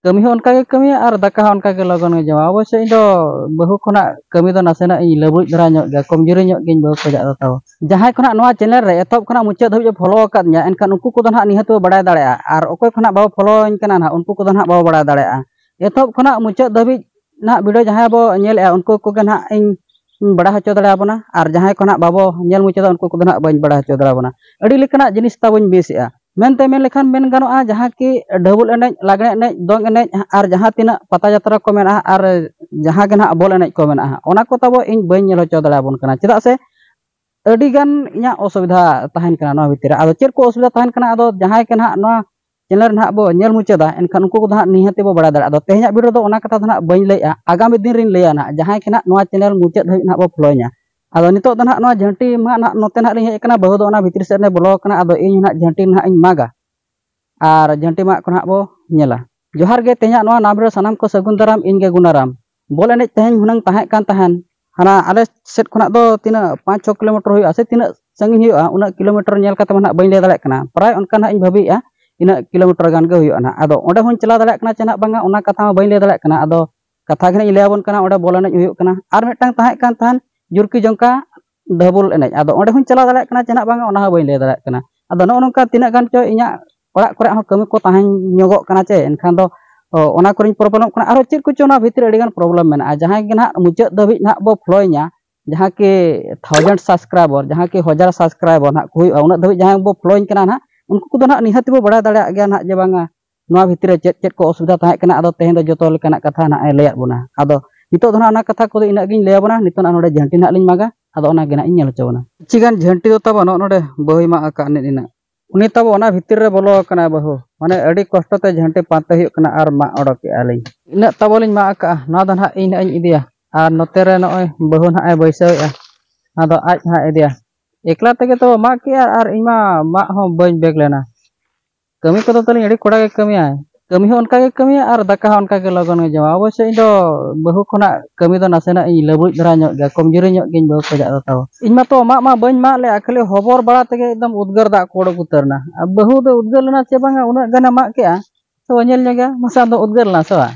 ᱠᱟᱹᱢᱤ ᱦᱚᱸ ᱚᱱᱠᱟᱜᱮ ᱠᱟᱹᱢᱤᱭᱟ ᱟᱨ ᱫᱟᱠᱟ ᱦᱚᱸ ᱚᱱᱠᱟᱜᱮ ᱞᱚᱜᱚᱱ ᱜᱮ ᱡᱚᱢᱟ ᱚᱵᱚᱥᱥᱳᱭ ᱤᱧ ᱫᱚ ᱵᱟᱹᱦᱩ ᱠᱷᱚᱱᱟᱜ ᱠᱟᱹᱢᱤ ᱫᱚ ᱱᱟᱥᱮᱱᱟᱜ ᱤᱧ ᱞᱟᱹᱵᱩᱡ ᱫᱷᱟᱨᱟ ᱧᱚᱜ ᱜᱮᱭᱟ ᱠᱚᱢᱡᱩᱨᱤ ᱧᱚᱜ ᱜᱤᱭᱟᱹᱧ ᱵᱟᱹᱦᱩ ᱠᱷᱚᱱᱟᱜ ᱫᱚ ᱛᱟᱵᱚ ᱡᱟᱦᱟᱸᱭ ᱠᱷᱚᱱᱟᱜ ᱱᱚᱣᱟ ᱪᱮᱱᱮᱞ ᱨᱮ ᱮᱛᱚᱦᱚᱵ ᱠᱷᱚᱱᱟᱜ ᱢᱩᱪᱟᱹᱫ ᱫᱷᱟᱹᱵᱤᱡ ᱯᱮ ᱯᱷᱚᱞᱳ ᱟᱠᱟᱫ ᱫᱤᱧᱟ ᱮᱱᱠᱷᱟᱱ ᱩᱱᱠᱩ ᱠᱚᱫᱚ ᱱᱟᱦᱟᱜ ᱱᱤᱦᱟᱹᱛ ᱵᱚ ᱵᱟᱲᱟᱭ ᱫᱟᱲᱮᱭᱟᱜᱼᱟ ᱟᱨ ᱚᱠᱚᱭ ᱠᱷᱚᱱᱟᱜ ᱵᱟᱵᱚ ᱯᱷᱚᱞᱳᱣᱟᱹᱧ ᱠᱟᱱᱟ ᱱᱟᱦᱟᱜ ᱩᱱᱠᱩ ᱠᱚᱫᱚ ᱱᱟᱦᱟᱜ ᱵᱟᱵᱚ ᱵᱟᱲᱟᱭ ᱫᱟᱲᱮᱭᱟᱜᱼᱟ ᱮᱛᱚᱦᱚᱵ ᱠᱷᱚᱱᱟᱜ ᱢᱩᱪᱟᱹᱫ ᱫᱷᱟᱹᱵᱤᱡ ᱱᱟᱦᱟᱜ ᱵᱷᱤᱰᱤᱭᱳ ᱡᱟᱦᱟᱸᱭ ᱵᱚ ᱧᱮᱞᱮᱫᱼᱟ ᱩᱱᱠᱩ ᱠᱚᱜᱮ ᱱᱟᱦᱟᱜ ᱤᱧ ᱵᱟᱲᱟᱭ ᱦᱚᱪᱚ ᱫᱟᱲᱮᱭᱟᱵᱚᱱᱟ ᱟᱨ ᱡᱟᱦᱟᱸᱭ ᱠᱚ ᱱᱟᱦᱟᱜ ᱵᱟᱵᱚ ᱧᱮᱞ ᱢᱩᱪᱟᱹᱫᱟ ᱩᱱᱠᱩ ᱠᱚᱫᱚ ᱱᱟᱦᱟᱜ ᱵᱟᱹᱧ ᱵᱟᱲᱟᱭ ᱦᱚᱪᱚ ᱫᱟᱲᱮᱭᱟᱵᱚᱱᱟ ᱟᱹᱰᱤ ᱞᱮᱠᱟᱱᱟᱜ ᱡᱤᱱᱤᱥ ᱛᱟᱵᱚᱧ ᱢᱤᱥᱮᱫᱼᱟ ᱢᱮᱱᱛᱮ ᱢᱮᱱ ᱞᱮᱠᱷᱟᱱ ᱢᱮᱱ ᱜᱟᱱᱚᱜᱼᱟ ᱡᱟᱦᱟᱸ ᱠᱤ ᱰᱟᱹᱵᱩᱞ ᱮᱱᱮᱡ ᱞᱟᱜᱽᱬᱮ ᱮᱱᱮᱡ ᱫᱚᱝ ᱮᱱᱮᱡ ᱟᱨ ᱡᱟᱦᱟᱸ ᱛᱤᱱᱟᱹᱜ ᱯᱟᱛᱟ ᱡᱟᱛᱨᱟ ᱠᱚ ᱢᱮᱱᱟᱜᱼᱟ ᱟᱨ ᱡᱟᱦᱟᱸ ᱜᱮ ᱱᱟᱦᱟᱜ ᱵᱚᱞ ᱮᱱᱮᱡ ᱠᱚ ᱢᱮᱱᱟᱜᱼᱟ ᱚᱱᱟ ᱠᱚ ᱛᱟᱵᱚ ᱤᱧ ᱵᱟᱹᱧ ᱧᱮᱞ ᱦᱚᱪᱚ ᱫᱟᱲᱮᱭᱟᱵᱚᱱ ᱠᱟᱱᱟ ᱪᱮᱫᱟᱜ ᱥᱮ ᱟᱹᱰᱤ ᱜᱟᱱ ᱤᱧᱟᱹᱜ ᱚᱥᱩᱵᱤᱫᱷᱟ ᱛᱟᱦᱮᱱ ᱠᱟᱱᱟ ᱱᱚᱣᱟ ᱵᱷᱤᱛᱤᱨ ᱨᱮ ᱟᱫᱚ ᱪᱮᱫ ᱠᱚ ᱚᱥᱩᱵᱤᱫᱷᱟ ᱛᱟᱦᱮᱱ ᱠᱟᱱᱟ ᱟᱫᱚ ᱡᱟᱦᱟᱸᱭ ᱜᱮ ᱱᱟᱦᱟᱜ ᱱᱚᱣᱟ ᱪᱮᱱᱮᱞ ᱱᱟᱦᱟᱜ ᱵᱚ ᱧᱮᱞ ᱢᱩᱪᱟᱹᱫᱟ ᱮᱱᱠᱷᱟᱱ ᱩᱱᱠᱩ ᱠᱚᱫᱚ ᱱᱟᱦᱟᱜ ᱱᱤᱦᱟᱹᱛ ᱵᱚ ᱵᱟᱲᱟᱭ ᱫᱟᱲᱮᱭᱟᱜᱼᱟ ᱟᱫᱚ ᱛᱮᱦᱮᱧᱟᱜ ᱵᱷᱤᱰᱤᱭᱳ ᱨᱮᱫᱚ ᱚᱱᱟ ᱠᱟᱛᱷᱟ ᱫᱚ ᱱᱟᱦᱟᱜ ᱵᱟᱹᱧ ᱞᱟᱹᱭᱮᱫᱼᱟ ᱟᱜᱟᱢᱤ ᱫᱤᱱ ᱨᱤᱧ ᱞᱟᱹᱭᱟ ᱱᱟᱦᱟᱜ ᱡᱟᱦᱟᱸᱭ ᱜᱮ ᱱᱟᱦᱟᱜ ᱱᱚᱣᱟ ᱪᱮᱱᱮᱞ ᱢᱩᱪᱟᱹᱫ ᱫᱷᱟᱹᱵᱤᱡ ᱱᱟᱦᱟᱜ ᱵᱚ ᱯᱷᱳᱞᱳᱭᱤᱧᱟ ᱟᱫᱚ ᱱᱤᱛᱚᱜ ᱫᱚ ᱱᱟᱦᱟᱜ ᱱᱚᱣᱟ ᱡᱷᱟᱹᱱᱴᱤ ᱢᱟ ᱱᱟᱦᱟᱜ ᱱᱚᱛᱮ ᱱᱟᱦᱟᱜ ᱞᱤᱧ ᱦᱮᱡ ᱟᱠᱟᱱᱟ ᱵᱟᱹᱦᱩ ᱫᱚ ᱚᱱᱟ ᱵᱷᱤᱛᱨᱤ ᱥᱮᱫ ᱨᱮ ᱵᱚᱞᱚ ᱟᱠᱟᱱᱟ ᱟᱫᱚ ᱤᱧ ᱱᱟᱦᱟᱜ ᱡᱷᱟᱹᱱᱴᱤ ᱱᱟᱦᱟᱜ ᱤᱧ ᱢᱟᱜᱟ ᱟᱨ ᱡᱷᱟᱹᱱᱴᱤ ᱢᱟᱜ ᱠᱚ ᱱᱟᱦᱟᱜ ᱵᱚ ᱧᱮᱞᱟ ᱡᱚᱦᱟᱨ ᱜᱮ ᱛᱮᱦᱮᱧᱟᱜ ᱱᱚᱣᱟ ᱱᱟᱢ ᱨᱮ ᱥᱟᱱᱟᱢ ᱠᱚ ᱥᱟᱹᱜᱩᱱ ᱫᱟᱨᱟᱢ ᱤᱧ ᱜᱮ ᱜᱩᱱᱟᱨᱟᱢ ᱵᱚᱞ ᱮᱱᱮᱡ ᱛᱮᱦᱮᱧ ᱦᱩᱱᱟᱹᱝ ᱛᱟᱦᱮᱸ ᱠᱟᱱ ᱛᱟᱦᱮᱱ ᱦᱟᱱᱟ ᱟᱞᱮ ᱥᱮᱫ ᱠᱷᱚᱱᱟᱜ ᱫᱚ ᱛᱤᱱᱟᱹᱜ ᱯᱟᱸᱪ ᱪᱷᱚ ᱠᱤᱞᱳᱢᱤᱴᱟᱨ ᱦᱩᱭᱩᱜᱼᱟ ᱥᱮ ᱛᱤᱱᱟᱹᱜ ᱥᱟᱺᱜᱤᱧ ᱦᱩᱭᱩᱜᱼᱟ ᱩᱱᱟᱹᱜ ᱠᱤᱞᱳᱢᱤᱴᱟᱨ ᱧᱮᱞ ᱠᱟᱛᱮ ᱱᱟᱦᱟᱜ ᱵᱟᱹᱧ ᱞᱟᱹᱭ ᱫᱟᱲᱮᱭᱟᱜ ᱠᱟᱱᱟ ᱯᱨᱟᱭ ᱚᱱᱠᱟ ᱱᱟᱦᱟᱜ ᱤᱧ ᱵᱷᱟᱹᱵᱤᱭᱮᱜᱼᱟ ᱤᱱᱟᱹᱜ ᱠᱤᱞᱳᱢᱤᱴᱟᱨ ᱜᱟᱱ ᱜᱮ ᱦᱩᱭᱩᱜᱼᱟ ᱱᱟᱦᱟᱜ ᱟᱫᱚ ᱚᱸᱰᱮ ᱦᱚᱸᱧ ᱪᱟᱞᱟᱣ ᱫᱟᱲᱮᱭᱟᱜ ᱠᱟᱱᱟ ᱪᱮ ᱱᱟᱦᱟᱜ ᱵᱟᱝᱟ ᱚᱱᱟ ᱠᱟᱛᱷᱟ ᱦᱚᱸ ᱵᱟᱹᱧ ᱞᱟᱹᱭ ᱫᱟᱲᱮᱭᱟᱜ ᱠᱟᱱᱟ ᱟᱫᱚ ᱠᱟᱛᱷᱟ ᱜᱮ ᱤᱧ ᱞᱟᱹᱭ ᱟᱵᱚᱱ ᱠᱟᱱᱟ ᱚᱸᱰᱮ ᱵᱚᱞ ᱮᱱᱮᱡ ᱦᱩᱭᱩᱜ ᱠᱟᱱᱟ ᱟᱨ ᱢᱤᱫᱴᱟᱝ ᱛᱟᱦᱮᱸ ᱠᱟᱱ ᱛᱟᱦᱮᱸᱫ ᱡᱩᱨᱠᱤ ᱡᱚᱝᱠᱟ ᱰᱷᱟᱹᱵᱩᱞ ᱮᱱᱮᱡ ᱟᱫᱚ ᱚᱸᱰᱮ ᱦᱚᱸᱧ ᱪᱟᱞᱟᱣ ᱫᱟᱲᱮᱭᱟᱜ ᱠᱟᱱᱟ ᱪᱮᱫᱟᱜ ᱵᱟᱝᱟ ᱚᱱᱟ ᱦᱚᱸ ᱵᱟᱹᱧ ᱞᱟᱹᱭ ᱫᱟᱲᱮᱭᱟᱜ ᱠᱟᱱᱟ ᱟᱫᱚ ᱱᱚᱜᱼᱚ ᱱᱚᱝᱠᱟ ᱛᱤᱱᱟᱹᱜ ᱜᱟᱱ ᱪᱚ ᱤᱧᱟᱹᱜ ᱚᱲᱟᱜ ᱠᱚᱨᱮ ᱦᱚᱸ ᱠᱟᱹᱢᱤ ᱠᱚ ᱛᱟᱦᱮᱸ ᱧᱚᱜᱚᱜ ᱠᱟᱱᱟ ᱪᱮ ᱮᱱᱠᱷᱟᱱ ᱫᱚ ᱚᱱᱟ ᱠᱚᱨᱮᱧ ᱯᱨᱚᱵᱞᱮᱢᱚᱜ ᱠᱟᱱᱟ ᱟᱨᱚ ᱪᱮᱫ ᱠᱚᱪᱚ ᱚᱱᱟ ᱵᱷᱤᱛᱨᱤ ᱨᱮ ᱟᱹᱰᱤ ᱜᱟᱱ ᱯᱨᱚᱵᱞᱮᱢ ᱢᱮᱱᱟᱜᱼᱟ ᱡᱟᱦᱟᱸᱭ ᱜᱮ ᱱᱟᱦᱟᱜ ᱢᱩᱪᱟᱹᱫ ᱫᱷᱟᱹᱵᱤᱡ ᱱᱟᱦᱟᱜ ᱵᱚ ᱯᱷᱳᱞᱳᱭᱤᱧᱟ ᱡᱟᱦᱟᱸ ᱠᱤ ᱛᱷᱟᱣᱡᱮᱱᱰ ᱥᱟᱵᱥᱠᱨᱟᱭᱵᱚᱨ ᱡᱟᱦᱟᱸ ᱠᱤ ᱦᱟᱡᱟᱨ ᱥᱟᱵᱥᱠᱨᱟᱭᱵᱚᱨ ᱱᱟᱦᱟᱜ ᱠᱚ ᱦᱩᱭᱩᱜᱼᱟ ᱩᱱᱟᱹᱜ ᱫᱷᱟᱹᱵᱤᱡ ᱡᱟᱦᱟᱸᱭ ᱵᱚ ᱯᱷᱳᱞᱳᱭᱤᱧ ᱠᱟᱱᱟ ᱱᱟᱦᱟᱜ ᱩᱱᱠᱩ ᱠᱚᱫᱚ ᱱᱟᱦᱟᱜ ᱱᱤᱦᱟᱹᱛ ᱜᱮᱵᱚ ᱵᱟᱲᱟᱭ ᱫᱟᱲᱮᱭᱟᱜ ᱜᱮᱭᱟ ᱱᱟᱦᱟᱜ ᱡᱮ ᱵᱟᱝᱟ ᱱᱚᱣᱟ ᱵᱷᱤᱛᱨᱤ ᱨᱮ ᱪᱮᱫ ᱪᱮᱫ ᱠᱚ ᱚᱥᱩᱵᱤᱫᱷᱟ ᱛᱟᱦᱮᱸ ᱠᱟᱱᱟ ᱟᱫᱚ ᱛᱮᱦᱮᱧ ᱫᱚ ᱡᱚᱛᱚ ᱞᱮᱠᱟᱱᱟᱜ ᱠᱟᱛᱷᱟ ᱱᱟᱦᱟᱜ ᱮ ᱞᱟᱹᱭᱟᱫ ᱵᱚᱱᱟ ᱟᱫᱚ ᱱᱤᱛᱚᱜ ᱫᱚ ᱱᱟᱦᱟᱜ ᱚᱱᱟ ᱠᱟᱛᱷᱟ ᱠᱚᱫᱚ ᱤᱱᱟᱹᱜ ᱜᱤᱧ ᱞᱟᱹᱭᱟᱵᱚᱱᱟ ᱱᱤᱛᱚᱜ ᱱᱟᱦᱟᱜ ᱱᱚᱰᱮ ᱡᱷᱟᱹᱱᱴᱤ ᱱᱟᱦᱟᱜ ᱞᱤᱧ ᱢᱟᱜᱟ ᱟᱫᱚ ᱚᱱᱟ ᱜᱮ ᱱᱟᱦᱟᱜ ᱤᱧ ᱧᱮᱞ ᱦᱚᱪᱚ ᱵᱚᱱᱟ ᱠᱤᱪᱷᱤ ᱜᱟᱱ ᱡᱷᱟᱹᱱᱴᱤ ᱫᱚ ᱛᱟᱵᱚ ᱱᱚᱜᱼᱚ ᱱᱚᱰᱮ ᱵᱟᱹᱦᱩᱭ ᱢᱟᱜ ᱟᱠᱟᱫ ᱱᱤᱡ ᱱᱤᱱᱟᱹᱜ ᱩᱱᱤ ᱛᱟᱵᱚ ᱚᱱᱟ ᱵᱷᱤᱛᱤᱨ ᱨᱮ ᱵᱚᱞᱚ ᱟᱠᱟᱱᱟ ᱵᱟᱹᱦᱩ ᱢᱟᱱᱮ ᱟᱹᱰᱤ ᱠᱚᱥᱴᱚ ᱛᱮ ᱡᱷᱟᱹᱱᱴᱤ ᱯᱟᱱᱛᱮ ᱦᱩᱭᱩᱜ ᱠᱟᱱᱟ ᱟᱨ ᱢᱟᱜ ᱚᱰᱚᱠᱮᱜᱼᱟ ᱞᱤᱧ ᱤᱱᱟᱹᱜ ᱛᱟᱵᱚ ᱞᱤᱧ ᱢᱟᱜ ᱟᱠᱟᱫᱼᱟ ᱱᱚᱣᱟ ᱫᱚ ᱱᱟᱦᱟᱜ ᱤᱧ ᱱᱟᱦᱟᱜ ᱤᱧ ᱤᱫᱤᱭᱟ ᱟᱨ ᱱᱚᱛᱮ ᱨᱮ ᱱᱚᱜᱼᱚᱭ ᱵᱟᱹᱦᱩ ᱱᱟᱦᱟᱜ ᱮ ᱵᱟᱹᱭᱥᱟᱹᱣᱮᱜᱼᱟ ᱟᱫᱚ ᱟᱡ ᱱᱟᱦᱟᱜ ᱤᱫᱤᱭᱟ ᱮᱠᱞᱟ ᱛᱮᱜᱮ ᱛᱚ ᱢᱟᱜ ᱠᱮᱜᱼᱟ ᱟᱨ ᱤᱧ ᱢᱟ ᱢᱟᱜ ᱦᱚᱸ ᱵᱟᱹᱧ ᱵᱮᱜᱽ ᱞᱮᱱᱟ ᱠᱟᱹᱢᱤ ᱠᱚᱫᱚ ᱛᱟᱹᱞᱤᱧ ᱟᱹᱰᱤ ᱠᱚᱲᱟ ᱜᱮ ᱠᱟᱹᱢᱤᱭᱟᱭ ᱠᱟᱹᱢᱤ ᱦᱚᱸ ᱚᱱᱠᱟ ᱜᱮ ᱠᱟᱹᱢᱤᱭᱟ ᱟᱨ ᱫᱟᱠᱟ ᱦᱚᱸ ᱚᱱᱠᱟ ᱜᱮ ᱞᱚᱜᱚᱱ ᱜᱮ ᱡᱚᱢᱟ ᱚᱵᱚᱥᱥᱚ ᱤᱧ ᱫᱚ ᱵᱟᱹᱦᱩ ᱠᱷᱚᱱᱟᱜ ᱠᱟᱹᱢᱤ ᱫᱚ ᱱᱟᱥᱮᱱᱟᱜ ᱤᱧ ᱞᱟᱹᱵᱩᱡ ᱫᱷᱟᱨᱟ ᱧᱚᱜ ᱜᱮᱭᱟ ᱠᱚᱢᱡᱩᱨᱤ ᱧᱚᱜ ᱜᱤᱭᱟᱹᱧ ᱵᱟᱹᱦᱩ ᱠᱷᱚᱱᱟᱜ ᱫᱚ ᱛᱟᱣ ᱤᱧ ᱢᱟᱛᱚ ᱢᱟᱜ ᱢᱟ ᱵᱟᱹᱧ ᱢᱟᱜ ᱞᱮᱫᱼᱟ ᱠᱷᱟᱹᱞᱤ ᱦᱚᱵᱚᱨ ᱵᱟᱲᱟ ᱛᱮᱜᱮ ᱮᱠᱫᱚᱢ ᱩᱫᱽᱜᱟᱹᱨ ᱫᱟᱜ ᱠᱚ ᱚᱰᱚᱠ ᱩᱛᱟᱹᱨ ᱮᱱᱟ ᱟᱨ ᱵᱟᱹᱦᱩ ᱫᱚ ᱩᱫᱽᱜᱟᱹᱨ ᱞᱮᱱᱟ ᱪᱮ ᱵᱟᱝᱟ ᱩᱱᱟᱹᱜ ᱜᱟᱱᱮ ᱢᱟᱜ ᱠᱮᱫᱼᱟ ᱛᱚ ᱧᱮᱞ ᱧᱚᱜᱮᱭᱟ ᱢᱟᱥᱮ ᱟᱢ ᱫᱚᱢ ᱩᱫᱽᱜᱟᱹᱨ ᱞᱮᱱᱟ ᱥᱮ ᱵᱟᱝ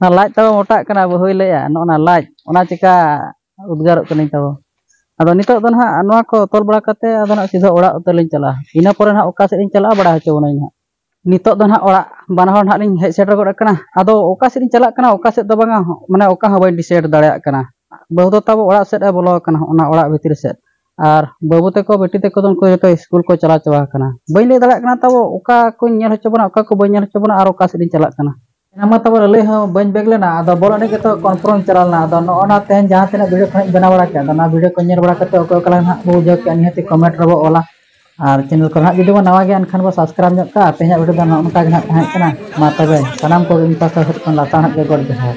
ᱚᱱᱟ ᱞᱟᱡ ᱛᱟᱵᱚ ᱢᱚᱴᱟᱜ ᱠᱟᱱᱟ ᱵᱟᱹᱦᱩᱭ ᱞᱟᱹᱭᱟ ᱱᱚᱜᱼᱚ ᱱᱟ ᱞᱟᱡ ᱚᱱᱟ ᱪᱮᱠᱟ ᱩᱫᱽᱜᱟᱨᱚᱜ ᱠᱟᱹᱱᱟᱹᱧ ᱛᱟᱵᱚ ᱟᱫᱚ ᱱᱤᱛᱚᱜ ᱫᱚ ᱱᱟᱦᱟᱜ ᱱᱚᱣᱟ ᱠᱚ ᱛᱚᱞ ᱵᱟᱲᱟ ᱠᱟᱛᱮ ᱟᱫᱚ ᱱᱟᱦᱟᱜ ᱥᱤᱫᱷᱟᱹ ᱚᱲᱟᱜ ᱩᱛᱟᱹᱨ ᱞᱤᱧ ᱪᱟᱞᱟᱜᱼᱟ ᱤᱱᱟᱹ ᱯᱚᱨᱮ ᱱᱟᱦᱟᱜ ᱚᱠᱟ ᱥᱮᱫ ᱞᱤᱧ ᱪᱟᱞᱟᱜᱼᱟ ᱵᱟᱲᱟᱭ ᱦᱚᱪᱚ ᱵᱚᱱᱟᱹᱧ ᱱᱟᱦᱟᱜ ᱱᱤᱛᱚᱜ ᱫᱚ ᱱᱟᱦᱟᱜ ᱚᱲᱟᱜ ᱵᱟᱱᱟ ᱦᱚᱲ ᱱᱟᱦᱟᱜ ᱞᱤᱧ ᱦᱮᱡ ᱥᱮᱴᱮᱨ ᱜᱚᱫ ᱟᱠᱟᱱᱟ ᱟᱫᱚ ᱚᱠᱟ ᱥᱮᱫ ᱞᱤᱧ ᱪᱟᱞᱟᱜ ᱠᱟᱱᱟ ᱚᱠᱟ ᱥᱮᱫ ᱫᱚ ᱵᱟᱝᱟ ᱢᱟᱱᱮ ᱚᱠᱟ ᱦᱚᱸ ᱵᱟᱹᱧ ᱰᱤᱥᱟᱭᱤᱰ ᱫᱟᱲᱮᱭᱟᱜ ᱠᱟᱱᱟ ᱵᱟᱹᱦᱩ ᱫᱚ ᱛᱟᱵᱚ ᱚᱲᱟᱜ ᱥᱮᱫ ᱮ ᱵᱚᱞᱚ ᱟᱠᱟᱱᱟ ᱚᱱᱟ ᱚᱲᱟᱜ ᱵᱷᱤᱛᱨᱤ ᱥᱮᱫ ᱟᱨ ᱵᱟᱹᱵᱩ ᱛᱮᱠᱚ ᱵᱤᱴᱤ ᱛᱮᱠᱚ ᱫᱚ ᱩᱱᱠᱩ ᱡᱚᱛᱚ ᱥᱠᱩᱞ ᱠᱚ ᱪᱟᱞᱟᱣ ᱪᱟᱵᱟ ᱟᱠᱟᱱᱟ ᱵᱟᱹᱧ ᱞᱟᱹᱭ ᱫᱟᱲᱮᱭᱟᱜ ᱠᱟᱱᱟ ᱛᱟᱵᱚ ᱚᱠᱟ ᱠᱚᱧ ᱧᱮᱞ ᱦᱚᱪᱚ ᱵᱚᱱᱟ ᱚᱠᱟ ᱠᱚ ᱵᱟᱹᱧ ᱧᱮᱞ ᱦᱚᱪᱚ ᱵᱚᱱᱟ ᱟᱨ ᱚᱠᱟ ᱥᱮᱫ ᱤᱧ ᱪᱟᱞᱟᱜ ᱠᱟᱱᱟ ᱚᱱᱟ ᱢᱟ ᱛᱟᱵᱚ ᱞᱟᱹᱞᱟᱹᱭ ᱦᱚᱸ ᱵᱟᱹᱧ ᱵᱮᱜᱽ ᱞᱮᱱᱟ ᱟᱫᱚ ᱵᱚᱞ ᱮᱱᱮᱡ ᱜᱮᱛᱚ ᱠᱚᱱᱯᱷᱨᱚᱢ ᱪᱟᱞᱟᱣ ᱞᱮᱱᱟ ᱟᱫᱚ ᱱᱚᱜᱼᱚ ᱱᱟ ᱛᱮᱦᱮᱧ ᱡᱟᱦᱟᱸ ᱛᱤᱱᱟᱹᱜ ᱵᱷᱤᱰᱤᱭᱳ ᱠᱚ ᱦᱟᱸᱜ ᱤᱧ ᱵᱮᱱᱟᱣ ᱵᱟᱲᱟ ᱠᱮᱫᱟ ᱟᱫᱚ ᱚᱱᱟ ᱵᱷᱤᱰᱤᱭᱳ ᱠᱚ ᱧᱮᱞ ᱵᱟᱲᱟ ᱠᱟᱛᱮ ᱚᱠᱚᱭ ᱚᱠᱟ ᱞᱮᱠᱟ ᱦᱟᱸᱜ ᱵᱚ ᱵᱩᱡᱷᱟᱹᱣ ᱠᱮᱫᱼᱟ ᱱᱤᱦᱟᱹᱛᱤ ᱠᱚᱢᱮᱱᱴ ᱨᱮᱵᱚ ᱚᱞᱟ ᱟᱨ ᱪᱮᱱᱮᱞ ᱠᱚᱨᱮ ᱦᱟᱸᱜ ᱡᱩᱫᱤ ᱵᱚ ᱱᱟᱣᱟ ᱜᱮᱭᱟ ᱮᱱᱠᱷᱟᱱ ᱵᱚ ᱥᱟᱵᱥᱠᱨᱟᱭᱤᱵᱽ ᱧᱚᱜ ᱠᱟᱜᱼᱟ ᱛᱮᱦᱮᱧᱟᱜ ᱵᱷᱤᱰᱤᱭᱳ ᱫᱚ ᱱᱚᱜᱼᱚ ᱱᱚᱝᱠᱟ ᱜᱮ ᱦᱟᱸᱜ ᱛᱟᱦᱮᱸ ᱠᱟᱱᱟ ᱢᱟ ᱛᱚᱵᱮ ᱥᱟᱱᱟᱢ ᱠᱚᱜᱮ ᱤᱧ ᱯᱟᱥᱴᱟ ᱥᱮᱫ ᱠᱷᱚᱱ ᱞᱟᱥᱟᱬᱦᱮᱫ ᱜᱮ ᱜᱚᱰ ᱡᱚᱦᱟᱨ